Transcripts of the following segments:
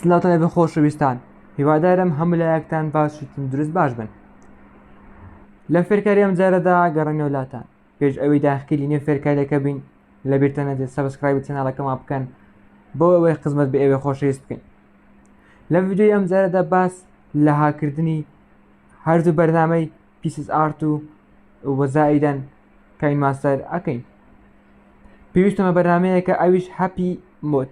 سلاوتان لەبێ خۆشەویستان هیوادارم هەموو لایەکتان باشی تەندروست باش بن لە فێرکاری ئەم جارەدا گەڕێنەوە لاتان پێش ئەوەی داخکیلی نێ فێرکاریەکە بین لە بیرتە نەدێت سەبسکرایبی چناڵەکەمان بکەن بۆ ئەوەی خزمەت بە ئێوە خۆشەویست بکەین لە ویددیوی ئەم جارەدا باس لە هاکردنی هەردوو بەرنامەی پیسس ئارت و وەزائیدەن کاین ماستەر ئەکەین پێویستمە بەرنمەیەکە ئەویش هەپی مۆت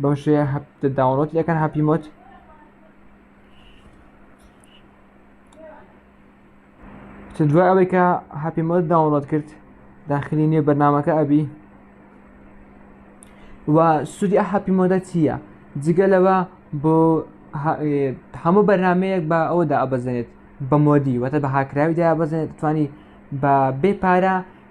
بەم شێ هەفتە داونۆت لەکەن هەپی مۆت چ دوای ئەوەی کە هەپی مۆت داونۆت کرد داخلی نوێ بەرنمەکە ئەبی و سوودی هەپی مۆدە چییە جگە لەوە بۆ هەموو بەرنمەیەک بە ئەودا ئەبەزێنێت بە مۆدی وەتە بە هاکراویدا بەزێنێت توانی بە بێ پارە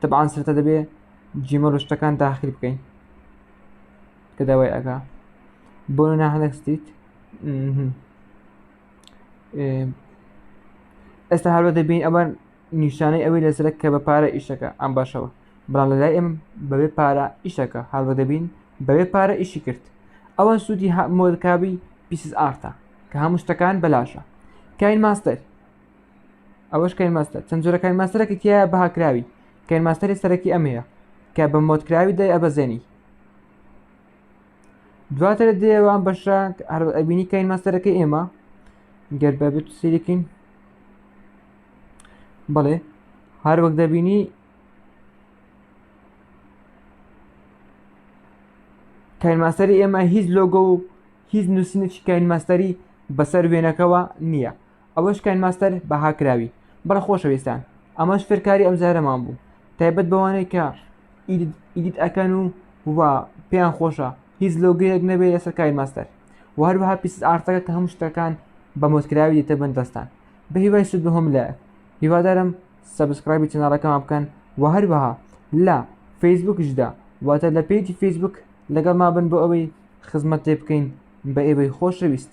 تەبعان سرتە دەبێ جیمە ڕشتەکان داخل بکەین کە داوای ئەگا بۆ ناهەنەستیت ئێستا هەروە دەبین ئەوان نیشانەی ئەوەی لەسرە کە بە پارە ئیشەکە ئەم باشەوە بەڵام لە لای ئێم بەبێ پارە ئیشەکە هەروە دەبین بەبێ پارە ئیشی کرد ئەوە سوودی مۆدکبی پیسز ئارتە کە هەموو شتەکان بەلاشە کاین ماستەر ئەوەش کەین ماستەر چەند جۆرە کەین ماستەرێکی تیا بەهاکراوی کەین ماستەری سەرەکی ئەمەیە کە بە مۆتکراوی دای ئەبەزێنی دواتر دێوان بەشە ئەبینی کەین ماستەرەکەی ئێمە گەر بەبێت سیرکین بەڵێ هەر وەک دەبینی کاین ماستەری ئێمە هیچ لۆگە و هیچ نووسینێکی کاین ماستەری بەسەر وێنەکەەوە نییە ئەوەش کاین ماستەر بەها کراوی. بەڵێ خۆشەویستان ئەمەش فێرکاری ئەمجارەمان بوو تایبەت بەوانەی کە ئیدیت ئەکەن و و پێیان خۆشە هیچ لۆگەیەک نەبێت لەسەر کاین ماستەر و هەروەها پیسز ئارتەکە کە هەموو شتەکان بە مۆدکراوی دێتە بن دەستان بە هیوای سود بە هەم لایەک هیوادارم سەبسکرایبی چەناڵەکەمان بکەن و هەروەها لە فەیسبوکیشدا واتە لە پێیجی فەیسبوک لەگەڵ ما بن بۆ ئەوەی خزمەت تێ بکەین بە ئێوەی خۆشەویست